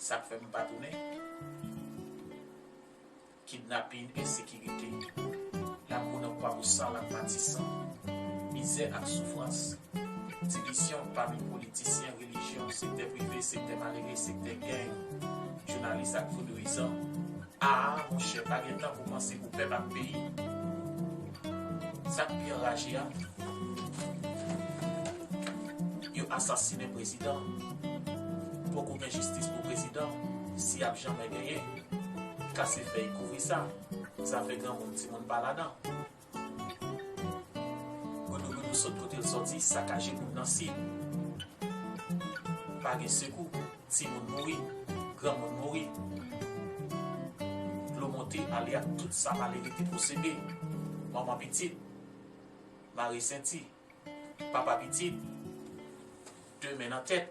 Sak fè m pa tounen? Kidnapin, ensekirite, lakou nan Kwabosal ak Matisan, mizè ak soufrans, divisyon pami politisyen, relijyon, sektè prive, sektè malere, sektè geng, jounalis ak vodouyizan, Aa monchè pa gen tan pou panse pou pèp ak peyi sak pi anraje a yo asasine prezidan poko gen jistis pou prezidan si yap janmè genyen kase fèy kouvri sa zafè granmoun timoun pa ladan Goudougoudou sot kote l sòti sakaje moun nan si Pa gen sekou timoun mouri granmoun mouri Dlo monte ale ak tout sa malere te posede Manman pitit mare senti Papa pitit de men nan tèt.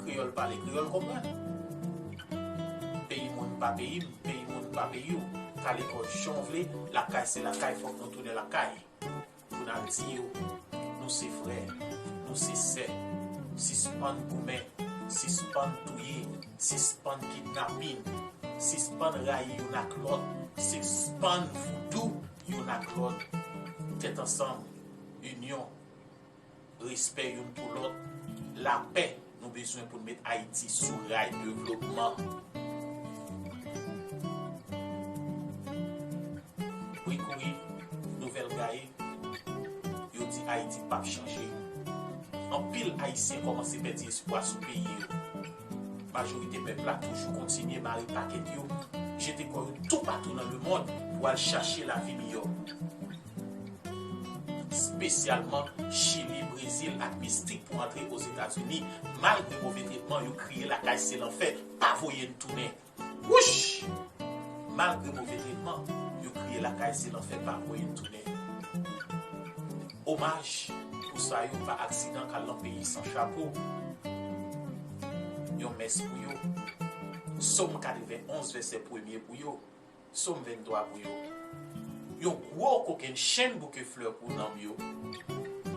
Kreyòl pale kreyòl konprann Peyi moun pa peyi m Peyi moun pa peyi w Kale kò w jan w vle Lakay se lakay Fòk nou tounen lakay Pou n al di yo Nou se frè Nou se sè Sispann goumen Sispann touye Sispann kidnapin Sispann rayi youn ak lòt Sispann voudou youn ak lòt Tèt ansanm Inyon Respè youn pou lòt, lapè nou bezwen pou n met Ayiti sou ray devlopman. Wi kouri, nouvèl gaye, yo di Ayiti p ap chanje. Anpil Ayisyen kòmanse pèdi espwa sou peyi yo. Majorite pèp la toujou kontinye mare pakèt yo, jete kò yo toupatou nan lemond pou al chache lavi miyò. spesyalman Chili, Brezil ak mistik pou antre Ozetazini malgre move tretman yo kriye lakay se lanfè pa voye n tounen wouch malgre move tretman yo kriye lakay se lanfè pa voye n tounen omaj pou sa yo pa aksidan kal lan peyi san chapo yon mès pou yo som 91 vèsè premye pou yo. Som 23 pou yo Yon gwo kokenn chenn bouke flè pou nanm yo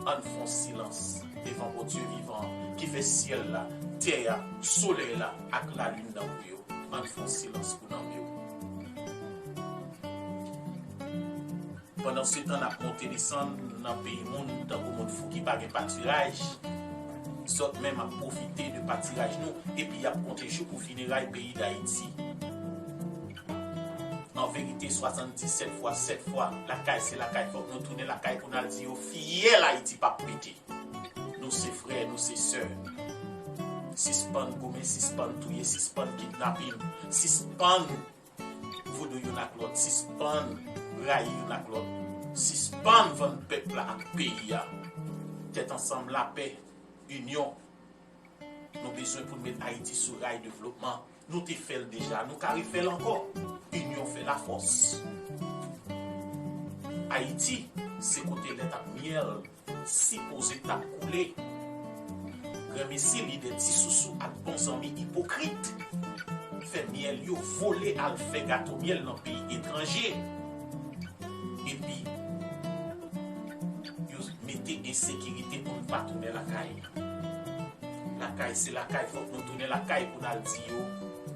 Ann fon silans devan Bondye vivan an ki fè syèl la, tè a, solèy la ak lalin nan pou yo Ann fon silans pou nanm yo. Pandansetan n ap monte desann nan peyi moun tankou moun fou ki pa gen patiraj, zòt menm ap pwofite de patiraj nou epi y ap konte jou pou fineray peyi Dayiti. Anverite 77 fwa 7 fwa, lakay se lakay fòk nou tounen lakay pou n al di yo fiyèl Ayiti pa p pete. Nou se frè, nou se sè. Sispann goumen, sispann touye, sispann kidnapin, sispann. Vodou youn ak lòt sispann rayi youn ak lòt sispann vann pèp la ak peyi a tèt ansanm lapè inyon nou bezwen poun met ayiti sou ray devlopman nou te fèl deja nou ka refèl ankò inyon fè lafòs ayiti se kote lèt ak myèl. Sipoze tap koule. Granmesi lidè ti sousou ak bon zanmi ipokrit fè myèl yo vole al fè gato myèl nan peyi etranje epi yo mete ensekirite pou n pa tounen lakay lakay se lakay fòk nou tounen lakay pou n al di yo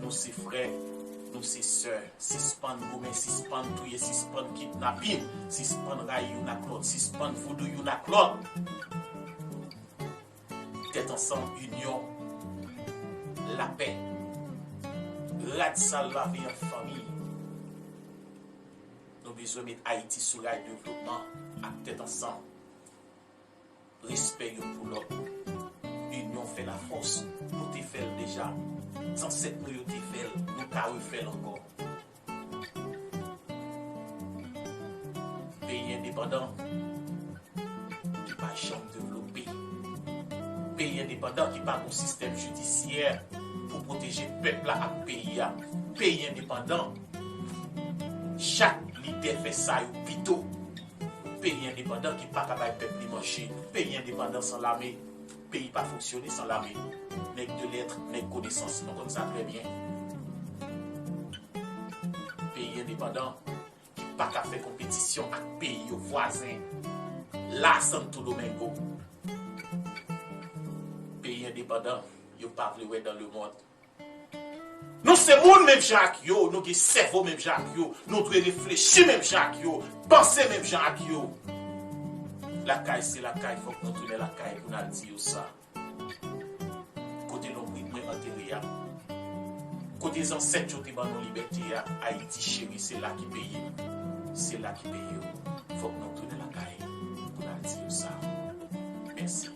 nou se frè Nou se sè, sispann goumen, sispann touye, sispann kidnapin, sispann rayi youn ak lòt, sispann voudou youn ak lòt. Tèt ansanm, inyon, lapè. Rad sal lave an fanmi. Nou bezwen met Ayiti sou ray devlopman ak tèt ansanm. Respè youn pou lòt. Inyon fè lafòs. Nou te fè l deja. Zansèt nou yo te fè l. Nou ka refè l ankò. Peyi endepandan ki pa janm devlope. Peyi endepandan ki pa gon sistèm jidisyè pou pwoteje pèp la ak peyi a. Peyi endepandan chak lidè fè sa yo pito. Peyi endepandan ki paka bay pèp li manje, peyi endepandan san lame, peyi pa fonksyone san lame, nèg de lettre, nèg konesans nou konn sa trè byen. Peyi endepandan ki paka fè konpetisyon ak peyi yo vwazen la Santo Domingo. Peyi endepandan yo pa vle wè dan le mond. Nou se moun menm jan ak yo, nou gen sèvo menm jan ak yo, nou dwe reflechi menm jan ak yo, panse menm jan ak yo. Lakay se lakay fòk nou tounen lakay pou n al di yo sa. Kote lonbrit mwen antere a, kote zansèt yo te ban nou libète a, Ayiti cheri se la ki peye m, se la ki peye w, fòk nou tounen lakay pou n al di yo sa. Mèsi.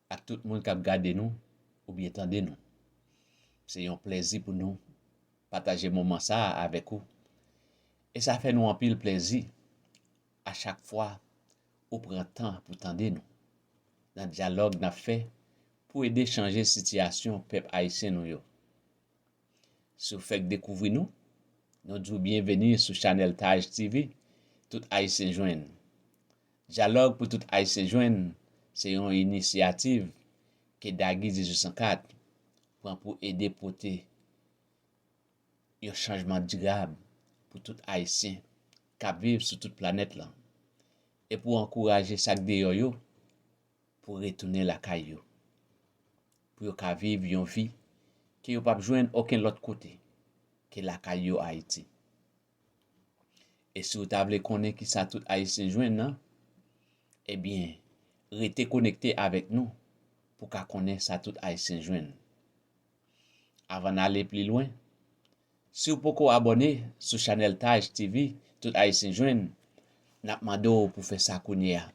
Ak tout moun kap gade nou oubyen tande nou. Se yon plèzi pou nou pataje moman sa a avèk ou e sa fè nou anpil plèzi a chak fwa ou pran tan pou tande nou nan dyalòg nap fè pou ede chanje sitiyasyon pèp ayisyen nou yo. Si w fèk dekouvri nou, nou di w byenveni sou chanèl Taj TV, Tout Ayisyen Jwenn. Dyalòg pou tout Ayisyen jwenn se yon inisyativ ke Dagi 1804 pran pou ede pote yon chanjman dirab pou tout Ayisyen k ap viv sou tout planèt lan e pou ankouraje sa k deyò yo pou retounen lakay yo pou yo ka viv yon vi ke yo p ap jwenn okenn lòt kote ke lakay yo Ayiti. E si ou ta vle konnen kisa tout Ayisyen jwenn nan, ebyen rete konekte avèk nou pou w ka konnen sa tout Ayisyen jwenn. Avan n ale pli lwen, si ou poko abòne sou chanèl Taj TV tout Ayisyen jwenn, n ap mande w pou fè sa kounye a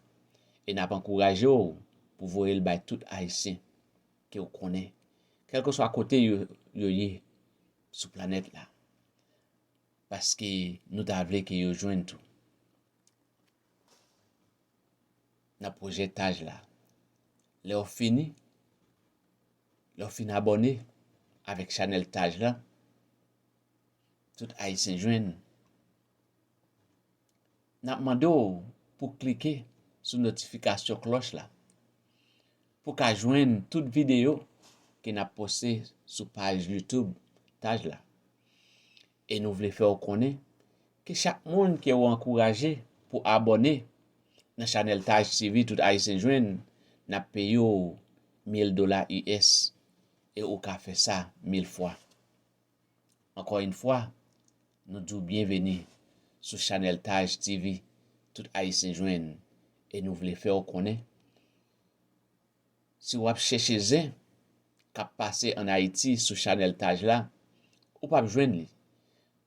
e n ap ankouraje w pou voye l bay tout Ayisyen ke ou konnen, kèlkeswa kote yo ye sou planèt la. paske nou ta vle ke yo jwenn tou. Nan pwojetaj la, lè ou fini, lè ou fin abòne avèk chanèl taj la, tout ayisyen jwenn, nap mande w pou klike sou notifikasyon klòch la pou ka jwenn tout videyo ke nap poste sou paj YouTube taj la. E nou vle fè w konnen ke chak moun ke ou ankouraje pou abòne nan chanèl Taj TV Tout Ayisyen Jwenn, n ap peye w mil dola US e ou ka fè sa mil fwa. Ankò yn fwa, nou di w byenveni sou chanèl Taj TV Tout Ayisyen Jwenn e nou vle fè w konnen, Si w ap chèche zen k ap pase an Ayiti sou chanèl Taj la, ou p ap jwenn li,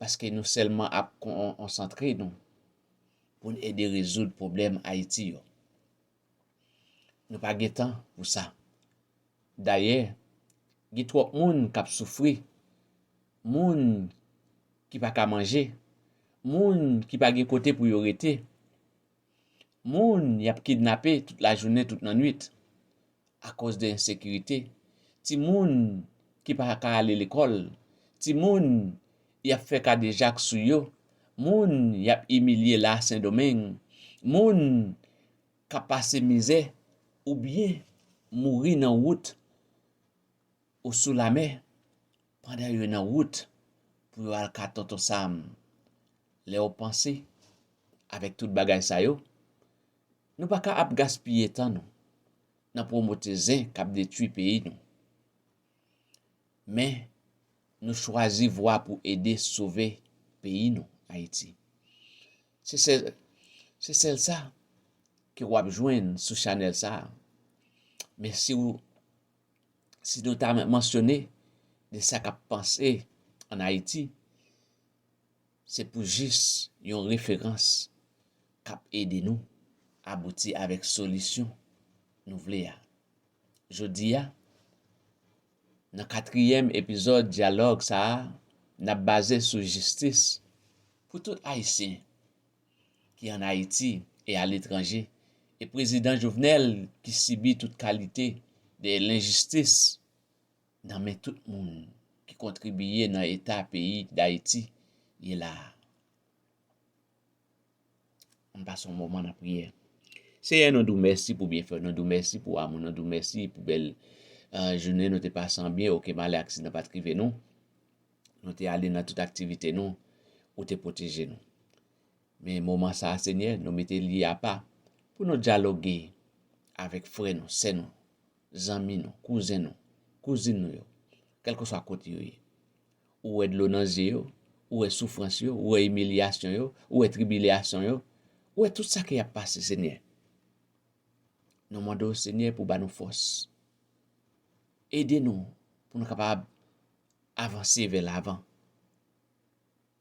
paske nou sèlman ap konsantre nou pou n ede rezoud pwoblèm Ayiti yo. Nou pa gen tan pou sa. Dayè, gen twòp moun k ap soufri, moun ki pa ka manje, moun ki pa gen kote pou yo rete. Moun y ap kidnape tout lajounen tout nannuit akoz de ensekirite, timoun ki pa ka ale lekòl, timoun y ap fè kadejak sou yo, moun y ap imilye la Sendomeng, moun k ap pase mizè oubyen mouri nan wout ou sou lamè. Pandan yo nan wout pou yo al ka Tonton Sam, lè ou panse avèk tout bagay sa yo, nou pa ka ap gaspiye tan nou nan pwomote zen k ap detwi peyi nou. Men, nou chwazi vwa pou ede sove peyi nou, Ayiti. Se sèl, se sèl sa ke ou ap jwenn sou chanèl sa a. Men si ou si nou ta mansyone de sa k ap panse an Ayiti, se pou jis yon referans k ap ede nou abouti avèk solisyon nou vle a. Jodi a, nan katriyèm epizòd dyalòg sa a, n ap baze sou jistis pou tout Ayisyen. ki an Ayiti e aletranje e prezidan Jovenel ki sibi tout kalite de lenjistis nan men tout moun ki kontribiye nan eta peyi Dayiti ye la a. Ann pase yon moman nan priyè. Seyè nou di w mèsi pou byenfè w, nou di w mèsi pou amou, nou di w mèsi pou bèl jounen nou te pase an byen, okenn malè aksidan pa t rive nou. Nou te ale nan tout aktivite nou, ou te pwoteje nou. Men moman sa a, Senyè, nou mete li apa pou nou dyaloge avèk frè nou, sè nou, zanmi nou, kouzen nou, kouzin nou yo, kèlkeswa kote yo ye. Ou wè dlo nan zye yo, ou wè soufrans yo, ou wè imilyasyon yo, ou wè tribilyasyon yo, ou wè tout sa ke y ap pase, Senyè. Nou mande w, Senyè, pou w ba nou fòs. Ede nou pou nou kapab avanse vè lavan,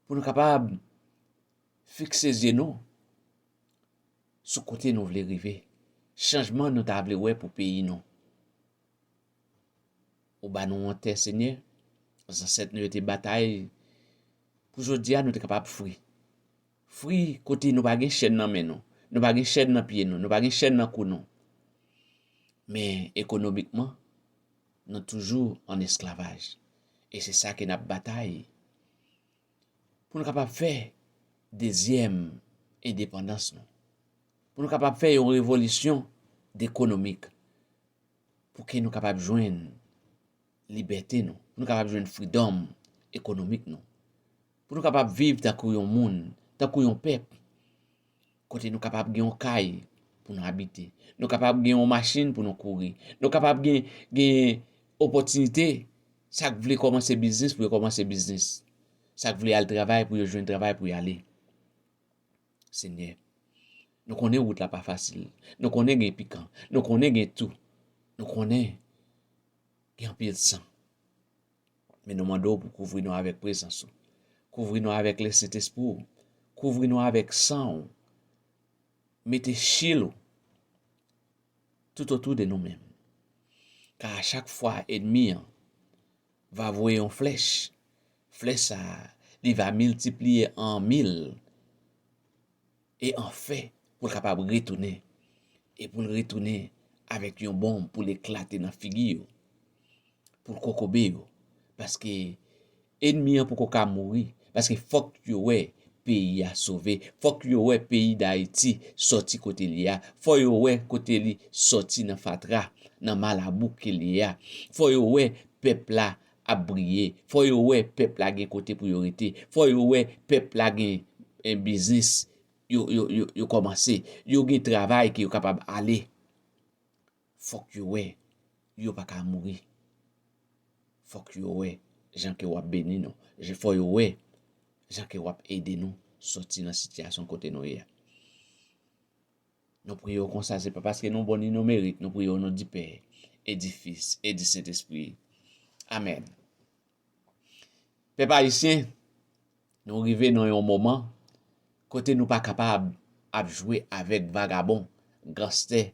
pou nou kapab fikse zye nou sou kote nou vle rive, chanjman nou ta vle wè pou peyi nou. Ou ba nou yon tè, Senyè, zansèt nou yo te batay pou jodi a nou te kapab fri. Fri kote nou pa gen chèn nan men nou, nou pa gen chèn nan pye nou, nou pa gen chèn nan kou nou. Men ekonomikman, Nou toujou an esklavaj e se sa ke nap batay pou nou kapab fè dezyèm endepandans nou, pou nou kapab fè yon revolisyon dekonomik pou ke nou kapab jwenn libète nou, pou nou kapab jwenn freedom ekonomik nou, pou nou kapab viv tankou yon moun, tankou yon pèp kote nou kapab gen yon kay pou nou abite, nou kapab gen yon machin pou nou kouri, nou kapab gen opòtinite, sa k vle kòmanse biznis pou yo kòmanse biznis, sa k vle al travay pou yo jwenn travay pou y ale. Senyè, nou konnen wout la pa fasil, nou konnen gen pikan, nou konnen gen tou, nou konnen gen anpil san. Men nou mande w pou kouvri nou avèk prezans ou. Kouvri nou avèk lè Sentespri ou. Kouvri nou avèk san ou. Mete chil ou tout otou de nou menm. Ka a chak fwa enmi an va voye yon flèch, flèch sa a li va miltipliye an mil. E anfen, pou l kapab retounen, e pou l retounen avèk yon bonm pou l eklate nan figi yo, pou l kokobe yo, paske enmi an poko ka mouri, paske fòk yo wè peyi a sove, fòk yo wè peyi Dayiti sòti kote l ye a, fò yo wè kote li sòti nan fatra, nan malabou ke l ye a, fò yo wè pèp la ap briye, fò yo wè pèp la gen kote pou yo rete, fò yo wè pèp la gen biznis yo kòmanse, yo gen travay ke yo kapab ale. Fòk yo wè yo pa ka mouri. Fòk yo wè jan ke w ap beni nou. Fò yo wè jan ke w ap ede nou soti nan sitiyasyon kote nou ye a. Nou priye w konsa se pa paske nou bon ni nou merit, nou priye w onon di Pè, e di Fis, e di Sentespri. Amèn. Pèp Ayisyen, nou rive nan yon moman kote nou pa kapab ap jwe avèk vagabon, ganstè,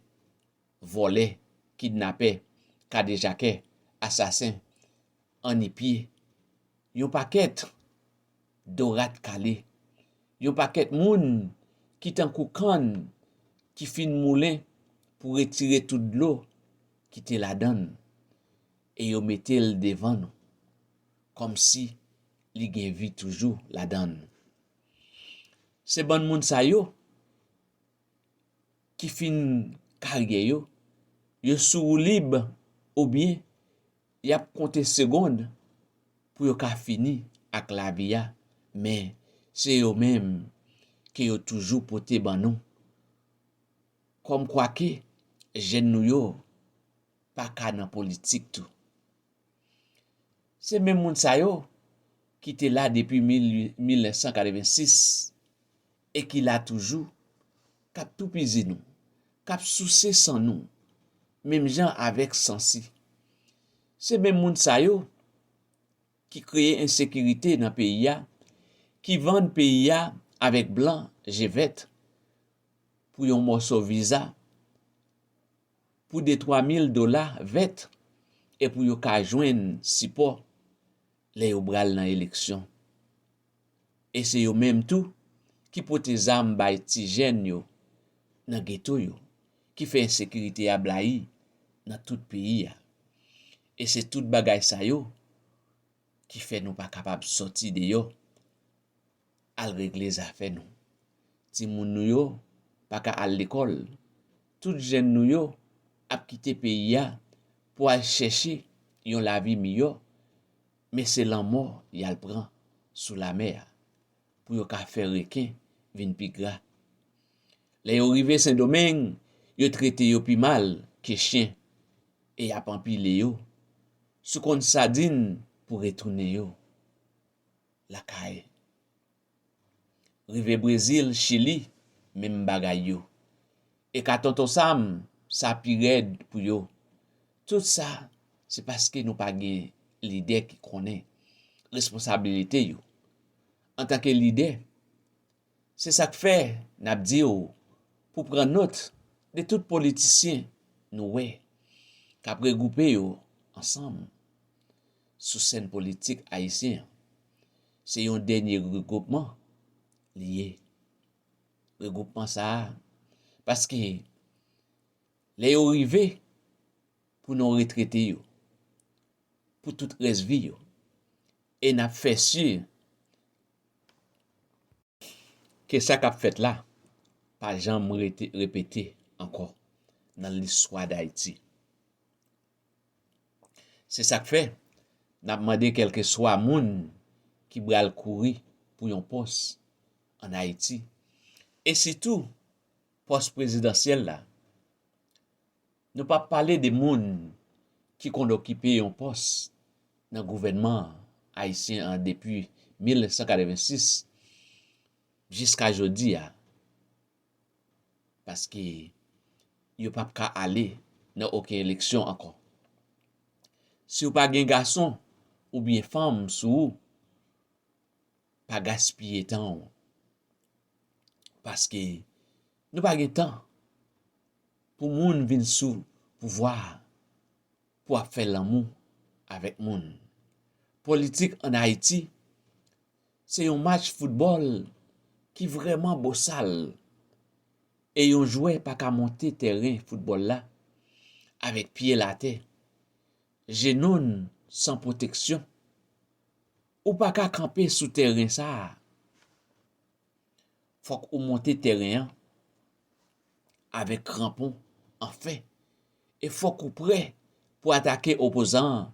vòlè, kidnapè, kadejakè, asasen, annipye, yon pakèt do rat kale, yon pakèt moun ki tankou kann ki fin moulen pou retire tout dlo ki te ladan l e yo mete l devan nou kòmsi li gen vi toujou ladan l. Se bann moun sa yo. ki fin karyè yo, yo sou woulib oubyen y ap konte segond pou yo ka fini ak lavi a, men se yo menm ke yo toujou pote ban nou. Kòmkwake jèn nou yo pa ka nan politik tou. Se menm moun sa yo ki te la depi 1986 e ki la toujou, k ap toupizi nou, k ap souse san nou, menm jan avèk sansi. Se menm moun sa yo ki kreye ensekirite nan peyi a, ki vann peyi a avèk blan je vèt pou yon mòso viza. pou de twa mil dola vèt e pou yo ka jwenn sipò lè yo bral nan eleksyon. E se yo menm tou ki pote zam bay ti jèn yo nan geto yo, ki fè ensekirite a blayi nan tout peyi a. E se tout bagay sa yo ki fè nou pa kapab sòti deyò. al regle zafè nou. Timoun nou yo pa ka al lekòl, tout jèn nou yo ap kite peyi a pou al chèche yon lavi miyò, men se lanmò y al pran sou lamè a pou yo ka fè reken vin pi gra. Lè yo rive Sendomeng, yo trete yo pi mal ke chen e y ap anpile yo sou konn sadin pou retounen yo. lakay. Rive Brezil, Chili, menm bagay yo. E ka Tonton Sam, sa pi rèd pou yo. Tout sa, se paske nou pa gen lidè ki konnen responsabilite yo. Antanke lidè, se sa k fè n ap di w pou w pran nòt de tout politisyen nou wè k ap regwoupe yo ansanm. sou sèn politik ayisyen an. Se yon dènye regwoupman li ye. Regwoupman sa a, paske lè yo rive pou nou retrete yo pou tout rès vi yo, e n ap fè si ke sa k ap fèt la pa janm repete ankò nan listwa Dayiti. Se sak fè nap mande kelke swa moun ki bral kouri pou yon pòs an Ayiti e sitou pòs prezidansyèl la, nou pa pale de moun ki konn okipe yon pòs nan gouvènman ayisyen an depi 1986 jiska jodi a, paske yo pap ka ale nan oken eleksyon ankò. Si w pa gen gason oubyen fanm sou ou, pa gaspiye tan w, paske nou pa gen tan pou moun vin sou pouvwa a. pou ap fè lanmou avèk moun. Politik an Ayiti se yon match foutbòl ki vrèman bosal e yon jwè pa ka monte tèren foutbòl la avèk pye l atè, jenou n san pwoteksyon. Ou pa ka kanpe sou tèren sa a fòk ou monte tèren an avèk kranpon an fè e fòk ou prè pou atake opozan an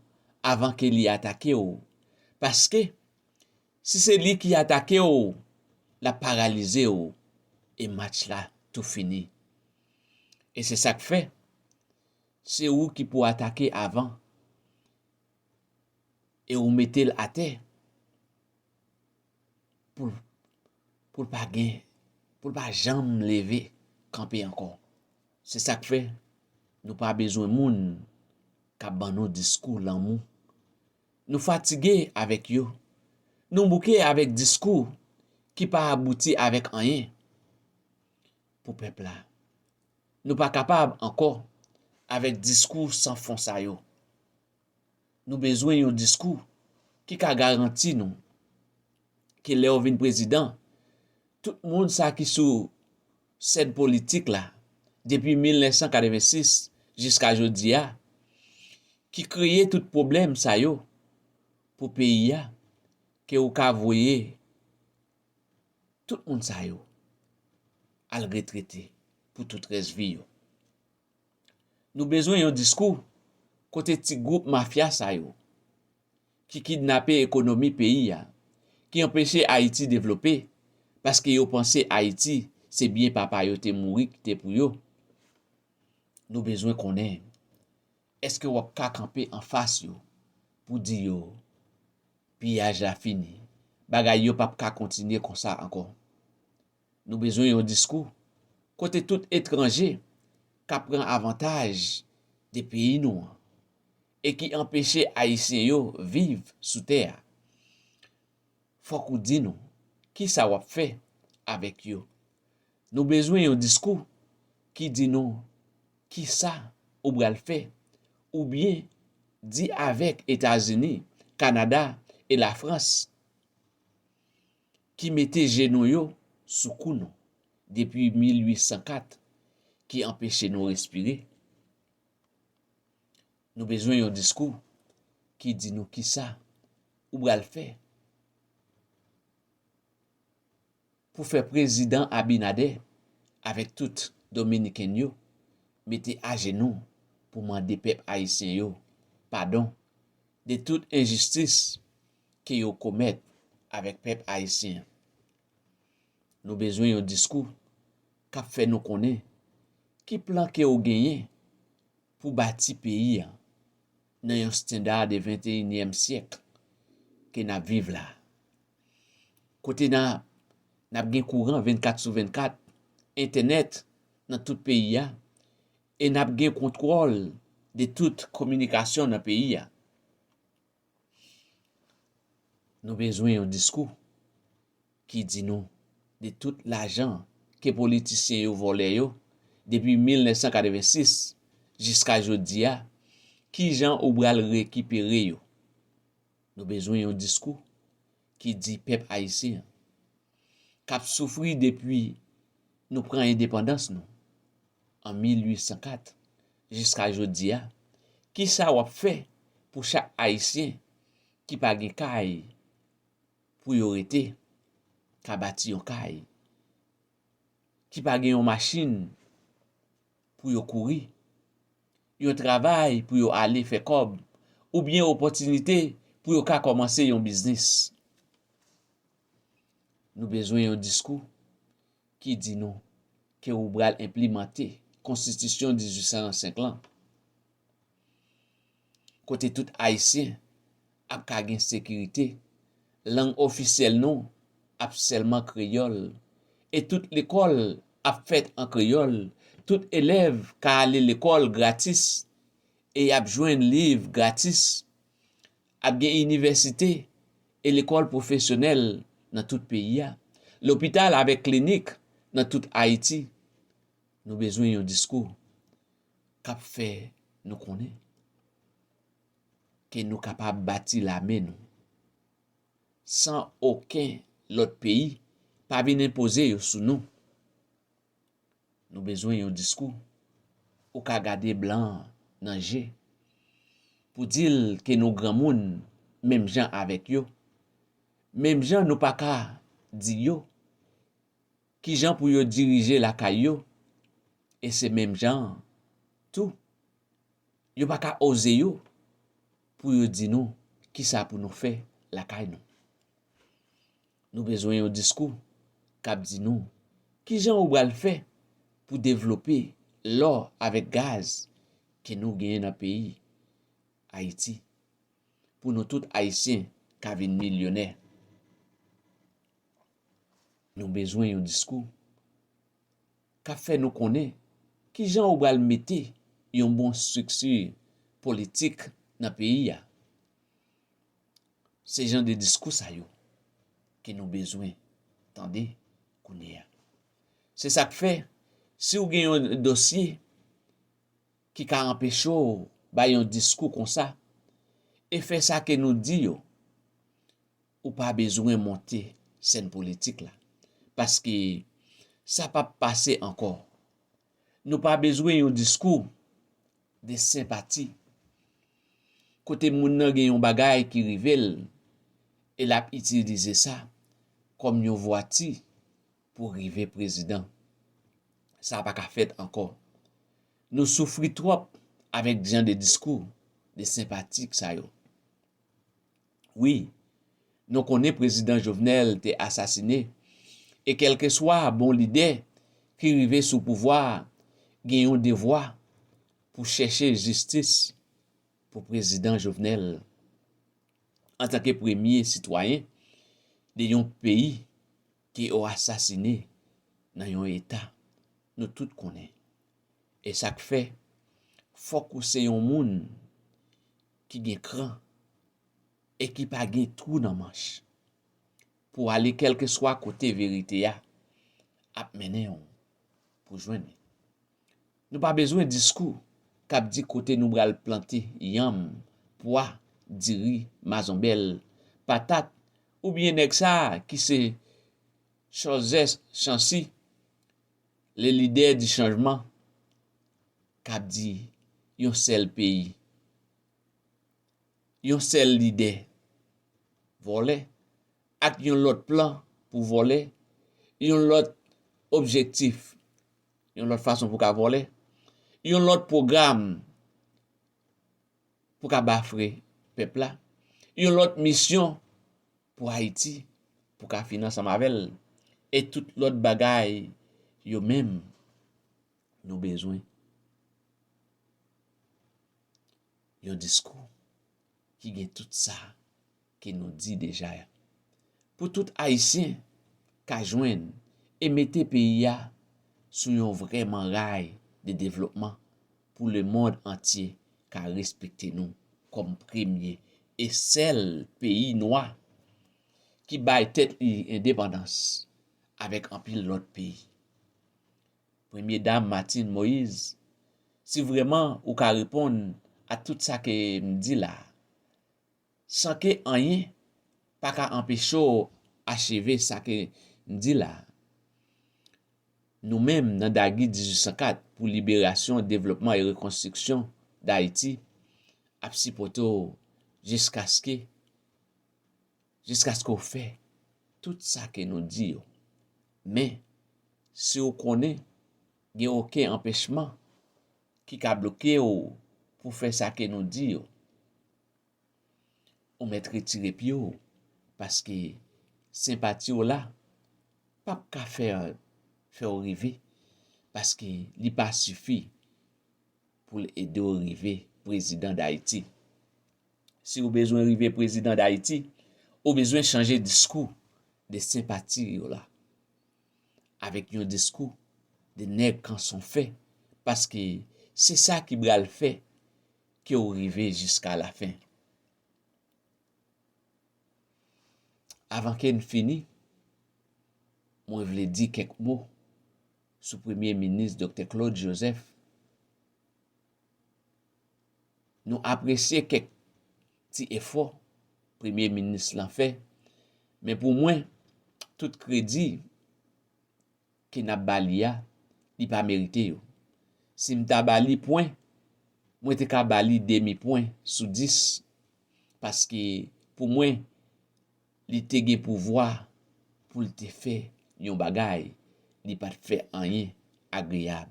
avan ke li atake w paske si se li ki atake w l ap paralize w e match la tou fini e se sa k fè se ou ki pou atake avan e ou mete l atè. pou l pa gen, pou l pa janm leve kanpe ankò. Se sa k fè nou pa bezwen moun k ap ban nou diskou lanmou. Nou fatige avèk yo, nou bouke avèk diskou ki pa abouti avèk anyen pou pèp la. Nou pa kapab ankò avèk diskou san fon sa yo. nou bezwen yon diskou ki ka garanti nou ke lè ou vin prezidan, tout moun sa ki sou sèn politik la depi 1986 jiska jodi a, ki kreye tout pwoblèm sa yo pou peyi a, ke ou ka voye tout moun sa yo al retrete pou tout rès vi yo. Nou bezwen yon diskou kote ti gwoup mafya sa yo ki kidnape ekonomi peyi a, ki anpeche Ayiti devlope paske yo panse Ayiti se byen papa yo te mouri kite pou yo. Nou bezwen konnen èske w ap ka kanpe anfas yo pou di yo piyaj la fini, bagay yo p ap ka kontinye konsa ankò. Nou bezwen yon diskou kote tout etranje ka pran avantaj de peyi nou an e ki anpeche Ayisyen yo viv sou tè a. Fòk ou di nou ki sa w ap fè avèk yo. Nou bezwen yon diskou ki di nou ki sa ou bral fè ou byen di avèk Etazini, Kanada e Lafrans. ki mete jenou yo sou kou nou depi 1804 ki anpeche nou respire nou bezwen yon diskou ki di nou kisa ou bral fè pou fè prezidan abinadè avèk tout dominiken yo mete ajenou pou mande pèp ayisyen yo padon de tout enjistis ke yo komèt avèk pèp ayisyen an. Nou bezwen yon diskou k ap fè nou konnen ki plan ke ou genyen pou bati peyi an nan yon standa de venteyinyèm syèk ke n ap viv la a, kote n ap gen kouran vennkat sou vennkat, entènèt nan tout peyi a, e n ap gen kontwòl de tout kominikasyon nan peyi a. Nou bezwen yon diskou ki di nou de tout lajan ke politisyen yo vòlè yo depi 1986 jiska jodi a, ki jan ou bral rekipere yo. Nou bezwen yon diskou ki di pèp ayisyen an, kap soufri depi nou pran endepandans nou, an 1804 jiska jodi a, kisa w ap fè pou chak Ayisyen ki pa gen kay pou yo rete ka bati yon kay, ki pa gen yon machin pou yo kouri, yon travay pou yo ale fè kòb oubyen opòtinite pou yo ka kòmanse yon biznis. Nou bezwen yon diskou. ki di nou ke ou bral enplimante konstitisyon 1805 lan kote tout ayisyen ap ka gen sekirite, lang ofisyèl nou ap sèlman kreyòl e tout lekòl ap fèt an kreyòl, tout elèv ka ale lekòl gratis e y ap jwenn liv gratis Ap gen inivèsite e lekòl pwofesyonèl nan tout peyi a, lopital avèk klinik nan tout Ayiti. Nou bezwen yon diskou k ap fè nou konnen ke nou kapab bati lame nou san oken lòt peyi pa vin enpoze yo sou nou. Nou bezwen yon diskou ou ka gade blan nan je pou di l ke nou granmoun menm jan avèk yo, menm jan nou pa ka di yo ki jan pou yo dirije lakay yo e se menm jan tou yo pa ka oze yo pou yo di nou kisa pou nou fè lakay nou. Nou bezwen yon diskou k ap di nou ki jan ou bral fè pou devlope lò avèk gaz ke nou genyen nan peyi Ayiti pou nou tout Ayisyen ka vin milyonè. Nou bezwen yon diskou k ap fè nou konnen ki jan ou bral mete yon bon strikti politik nan peyi a. Se jan de diskou sa yo ke nou bezwen tande kounye a. Se sa k fè, si w gen yon dosye ki ka anpeche w bay yon diskou konsa, e fè sa ke nou di yo, ou pa bezwen monte sèn politik la, paske sa p ap pase ankò. Nou pa bezwen yon diskou de senpati, kote moun nan gen yon bagay ki rive l e l ap itilize sa kòm yon vwati pou rive prezidan. Sa pa ka fèt ankò. Nou soufri twòp avèk jan de diskou de senpatik sa yo. Wi, nou konnen Prezidan Jovenel te asasine, e kèlkeswa bon lidè ki rive sou pouvwa gen yon devwa pou chèche jistis pou Prezidan Jovenel. Antanke premye sitwayen de yon peyi ke yo asasine nan yon eta, nou tout konnen. E sa k fè, fòk ou se yon moun ki gen kran e ki pa gen twou nan manch pou ale kèlkeswa kote verite a ap mennen w pou jwenn li. Nou pa bezwen diskou k ap di kote nou pral plante yanm, pwa, diri, mazonbèl, patat oubyen nèg sa a ki se Cholzès Chansi, Le lidè di chanjman kap di yon sèl peyi. Yon sèl lidè vòlè ak yon lòt plan pou vòlè, yon lòt objektif, yon lòt fason pou ka vòlè, yon lòt pwogram pou ka bafre pèp la, yon lòt misyon pou Ayiti pou ka fin ansanm avè l, e tout lòt bagay yo menm nou bezwen yon diskou ki gen tout sa ke nou di deja ya. Pou tout Ayisyen ka jwenn e mete peyi ya sou yon vrèman ray de devlopman pou le mond antye ka respekte nou kòm premye e sèl peyi nwa ki bay tèt li endepandans avèk anpil lòt peyi. Premye Dam Martine Moise, si vrèman ou ka reponn a tout sa ke m di la, San ke anyen pa ka anpeche w acheve sa ke m di la a. Nou menm nan Dagi 1804 pou liberasyon, devlopman e rekonstriksyon Dayiti ap sipote w jiskaske jiskaske w fè tout sa ke nou di yo. Men, si w konnen gen oken anpechman ki ka bloke w pou fè sa ke nou di yo, Ou mèt retire pye w paske senpati w la pap ka fè w rive paske li pa sifi pou l ede w rive prezidan Dayiti. Si w bezwen rive prezidan Dayiti, ou bezwen chanje diskou de senpati w la avèk yon diskou de nèg kanson fè paske se sa ki bral fè ke ou rive jiska la fen. Avan ke n fini, mwen vle di kèk mo sou Premye Minis Doktè Claude Joseph. Nou apresye kèk ti efò Premye Minis lan fè, men pou mwen, tout kredi ke nap ba li a li pa merite yo sim ta ba li pwen mwen te ka ba li demi pwen sou 10 paske pou mwen li te gen pouvwa poul te fè yon bagay li pat fè anyen agreyab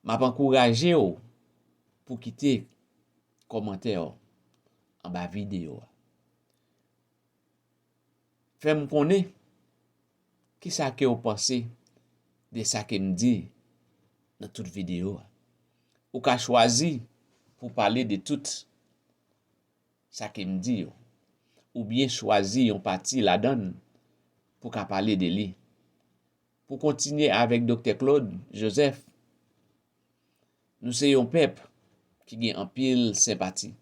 map ankourajew pou kite kòmantèw anba videyo a. Fèm konnen kisa kew panse de sa kem di nan tout video a. Ou ka chwazi pou pale de tout sa kem di yo oubyen chwazi yon pati ladann pou ka pale de li. Pou kontinye avèk Doktè Claude Joseph Nou se yon pèp ki gen anpil senpati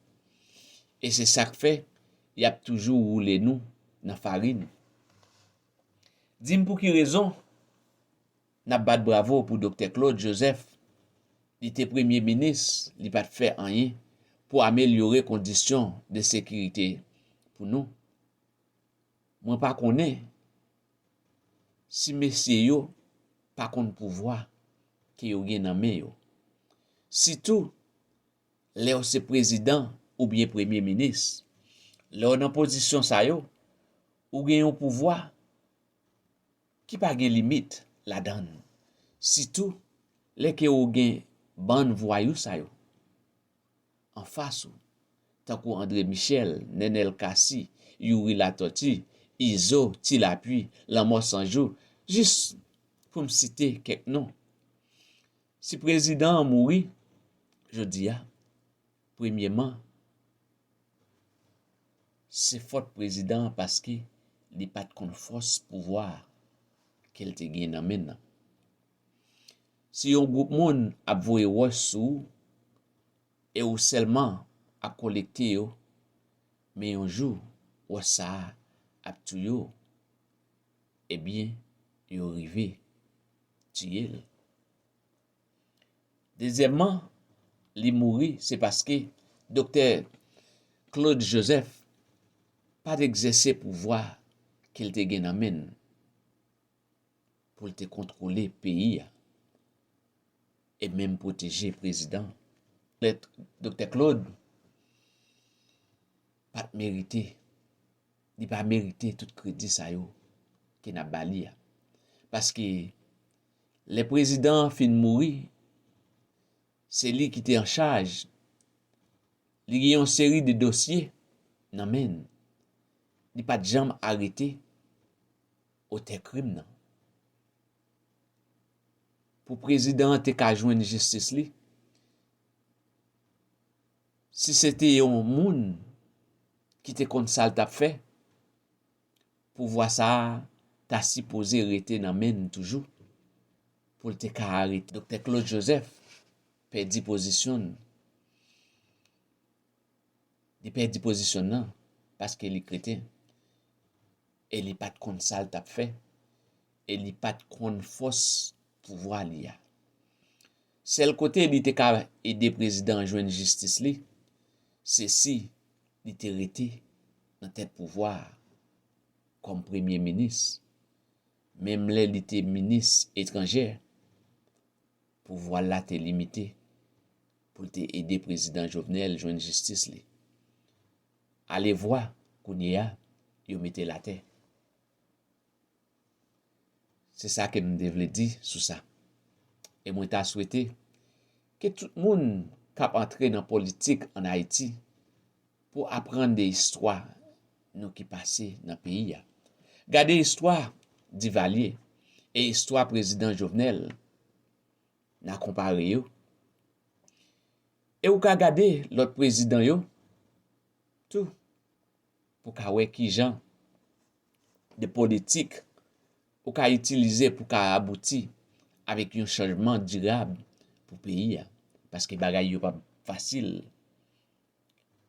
e se sa k fè y ap toujou woule nou nan farin. Di m pou ki rezon n ap bat bravo pou Doktè Claude Joseph, li te premye minis li pa t fè anyen pou amelyore kondisyon de sekirite pou nou? Mwen pa konnen. Si mesye yo pa konn pouvwa ke yo gen nan men yo. Sitou lè w se prezidan oubyen premye minis. Lè w nan pozisyon sa yo, ou gen yon pouvwa ki pa gen limit ladan l. Sitou lè ke ou gen bann vwayou sa yo. anfas ou, tankou Andre Michel, Nenel Cassy, Youri Latortue, Izo, Ti Lapuy, Lanmò San Jou, jis pou m site kèk non. Si prezidan an mouri jodi a, premyeman, se fòt prezidan an paske li pa t konn fòs pouvwa a ke l te gen nan men l lan. Si yon gwoup moun ap voye wòch sou ou e ou sèlman ap kolekte yo, men yon jou wòch sa a ap touye w, ebyen yo rive tiye l. Dezyèmman, li mouri se paske doktè Claude Joseph pa t egzèse pouvwa ke l te gen nan men l. pou l te kontwole peyi a e menm pwoteje prezidan an. Mèt Doktè Klod pa t merite, li pa merite tout kredi sa yo ke n ap ba li a. Paske lè prezidan an fin mouri, se li ki te an chaj, li gen yon seri de dosye nan men l, li pa t janm arete. Otè krim nan. Pou prezidan an te ka jwenn jistis li, si se te yon moun ki te konn sa l t ap fè, pouvwa sa a ta sipoze rete nan men l toujou pou l te ka arete. Doktè Claude Joseph pèdi pozisyon l. Li pèdi pozisyon l nan paske li kreten. E li pa t konn sa l t ap fè. E li pa t konn fòs pouvwa li a. Sèl kote li te ka ede prezidan an jwenn jistis li, se si li te rete nan tèt pouvwa a kòm premye minis. Menm lè li te minis etranjè, pouvwa l la te limite pou l te ede prezidan Jovenel jwenn jistis li. Alevwa, kounyeya, yo mete l atè. Se sa ke m te vle di sou sa. E mwen ta swete ke tout moun k ap antre nan politik an Ayiti pou aprann de istwa nou ki pase nan peyi a. Gade istwa Divalye e istwa Prezidan Jovenel. Nan konpare yo. E ou ka gade lòt prezidan yo tou pou ka wè ki jan de politik ou ka itilize pou ka abouti avèk yon chanjman dirab pou peyi a. Paske bagay yo pa fasil.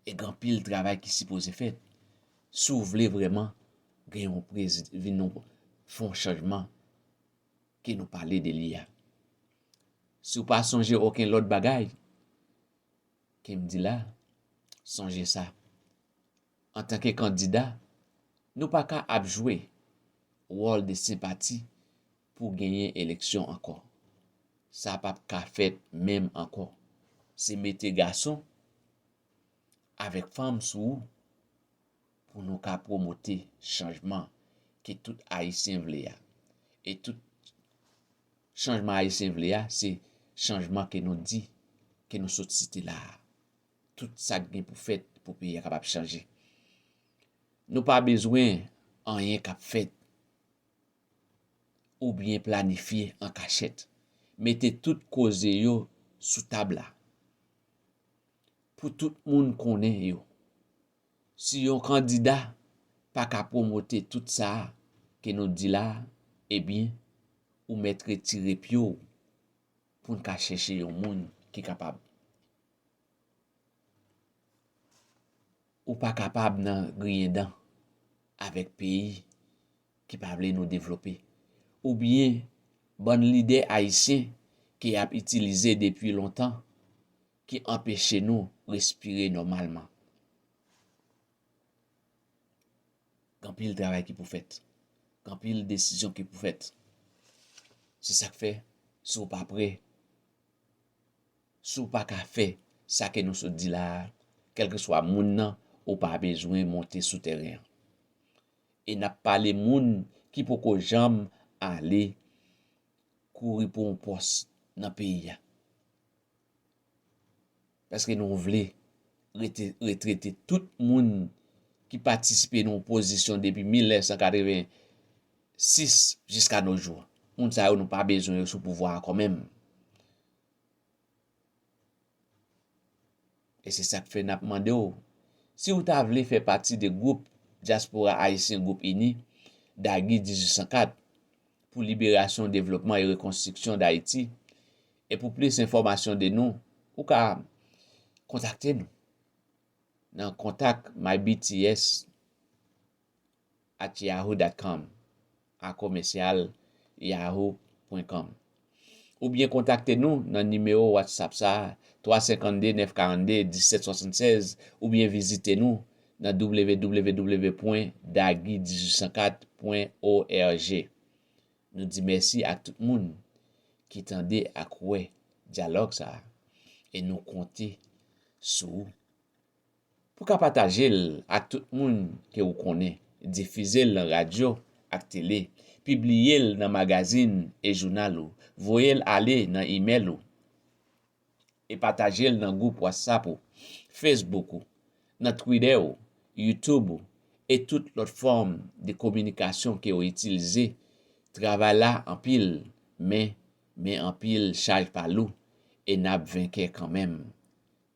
E gen anpil travay ki sipoze fèt si w vle vrèman gen yon vin yon fon chanjman ke nou pale de li a. Si w pa sonje oken lòt bagay ke m di la, sonje sa, antanke kandida, nou pa ka ap jwe wòl de senpati pou genyen eleksyon ankò. Sa pa p ka fèt menm ankò. Se mete gason avèk fanm sou ou. pou nou ka pwomote chanjman ke tout Ayisyen vle a, e tout chanjman Ayisyen vle a se chanjman ke nou di, ke nou sot site la a. Tout sa k gen pou fèt pou peyi a kapab chanje. Nou pa bezwen anyen k ap fèt oubyen planifye an kachèt. Mete tout koze yo sou tab la pou tout moun konnen yo. Si yon kandida pa ka pwomote tout sa a ke nou di la a, ebyen, ou mèt retire pye w pou n ka chèche yon moun ki kapab. Ou pa kapab nan griyen dan avèk peyi ki pa vle nou devlope, oubyen bann lidè ayisyen ke y ap itilize depi lontan, ki anpeche nou respire nòmalman. Gen anpil travay ki pou fèt. Gen anpil desizyon ki pou fèt. Se sa k fè, si w pa pre, si w pa ka fè sa ke nou sot di la a, kèlkeswa moun nan, ou pa bezwen monte sou tèren an. E n ap pale moun ki poko janm ale kouri pou yon pòs nan peyi a. Paske nou vle rete retrete tout moun ki patisipe nan opozisyon depi 1986 jiska no jou. Moun sa yo nou pa bezwen yo sou pouvwa ankò menm. E se sak fè nap mande w, si w ta vle fè pati de gwoup Dyaspora Ayisyen Gwoup Ini, Dagi 1804, pou liberasyon, devlopman e rekonstriksyon Dayiti, e pou plis enfòmasyon de nou, ou ka kontakte nou nan kontak mybts. at yahoo dot com a komèsyal yahoo pwen kòm oubyen kontakte nou nan nimewo Whatsapp sa 352 942 1776 oubyen vizite nou nan www pwen dagy 1804 pwen org Nou di mèsi ak tout moun ki tande ak wè dyalòg sa e nou konte sou ou. Pou ka pataje l ak tout moun ke ou konnen, difize l nan radyo ak tele, pibliye l nan magazin e jounal ou, voye l ale nan imèl ou, e pataje l nan gwoup Whatsapp ou, Facebook ou, nan Twitter ou, YouTube ou, e tout lòt fòm de kominikasyon ke ou itilze, travay la anpil, men, men anpil chaj pa lou, e n ap venkè kanmenm.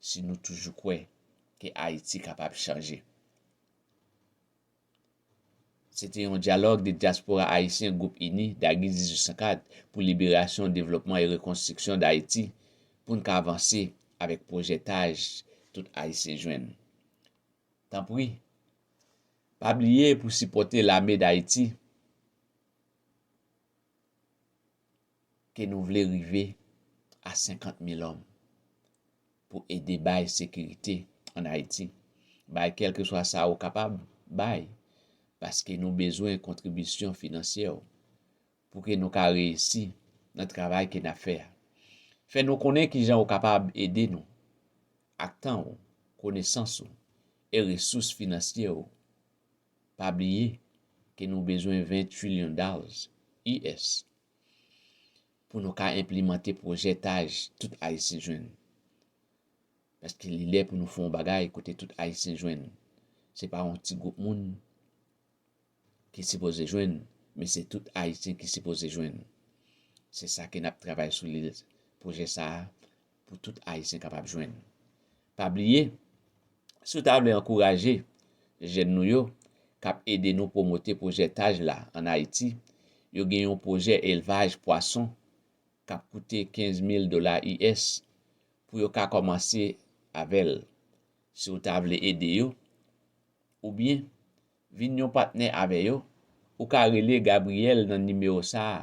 si nou toujou kwè ke Ayiti kapab chanje. Se te yon dyalòg de dyaspora ayisyen Gwoup Ini, Dagy 1804, pou liberasyon, devlopman e rekonstriksyon Dayiti pou n ka avanse avèk pwojè taj tout Ayisyen jwenn. Tanpri, pa bliye pou sipòte Lame Dayiti. ke nou vle rive a 50 mil òm pou ede bay sekirite an Ayiti. Bay kèlkeswa sa ou kapab bay, paske nou bezwen kontribisyon finansyè ou pou ke nou ka reyisi nan travay ke nap fè a. Fè nou konnen kijan ou kapab ede nou ak tan ou, konesans ou e resous finansye ou. Pa bliye ke nou bezwen 20 trillion dollars US pou nou ka enplimante pwojè taj tout Ayisyen jwenn. Paske li lè pou nou fè yon bagay kote tout Ayisyen jwenn. Se pa yon ti gwoup moun ki sipoze jwenn, men se tout Ayisyen ki sipoze jwenn. Se sa ke n ap travay sou li, pwojè sa a, pou tout Ayisyen kapab jwenn. Pa bliye, si w ta vle ankouraje jèn nou yo k ap ede nou pwomote pwojè Taj la ann Ayiti, yo gen yon pwojè elvaj pwason k ap koute 15 mil dola US pou yo ka kòmanse avè l. Si w ta vle ede yo oubyen vin yon patnè avè yo, ou ka rele Gabriel nan nimewo sa a,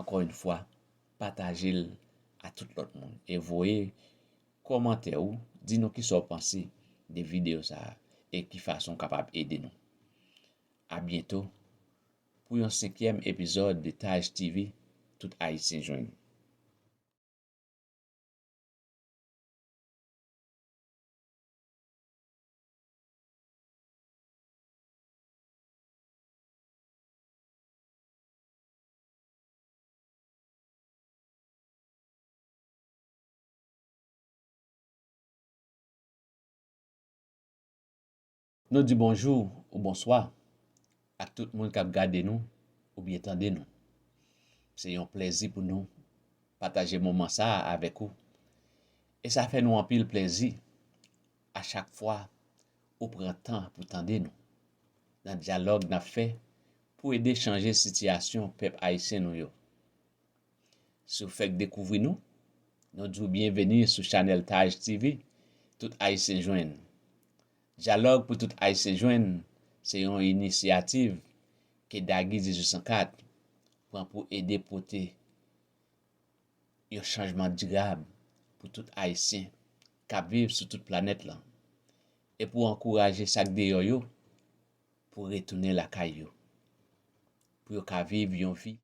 Ankò yn fwa patajel a tout lòt moun e voye kòmantè ou di nou kisa ou panse de video sa e ki fason ou kapab ede nou. A byento pou yon senkyèm epizòd de Taj TV tout ayisyen jwenn. Nou di bonjou ou bonswa ak tout moun kap gade nou oubyen tande nou. Se yon plèzi pou nou pataje moman sa a avèk ou e sa fè nou anpil plèzi a chak fwa ou pran tan pou tande nou nan dyalòg nap fè pou ede chanje sitiyasyon pèp ayisyen nou yo. Si w fèk dekouvri nou, nou di w byenveni sou chanèl Taj TV, Tout Ayisyen Jwenn. Dyalòg pou Tout Ayisyen Jwenn se yon inisyativ ke Dagi 1804 pran pou ede pote yon chanjman dirab pou tout Ayisyen k ap viv sou tout planèt lan e pou ankouraje sa k deyò yo pou retounen lakay yo, pou yo ka viv yon vi.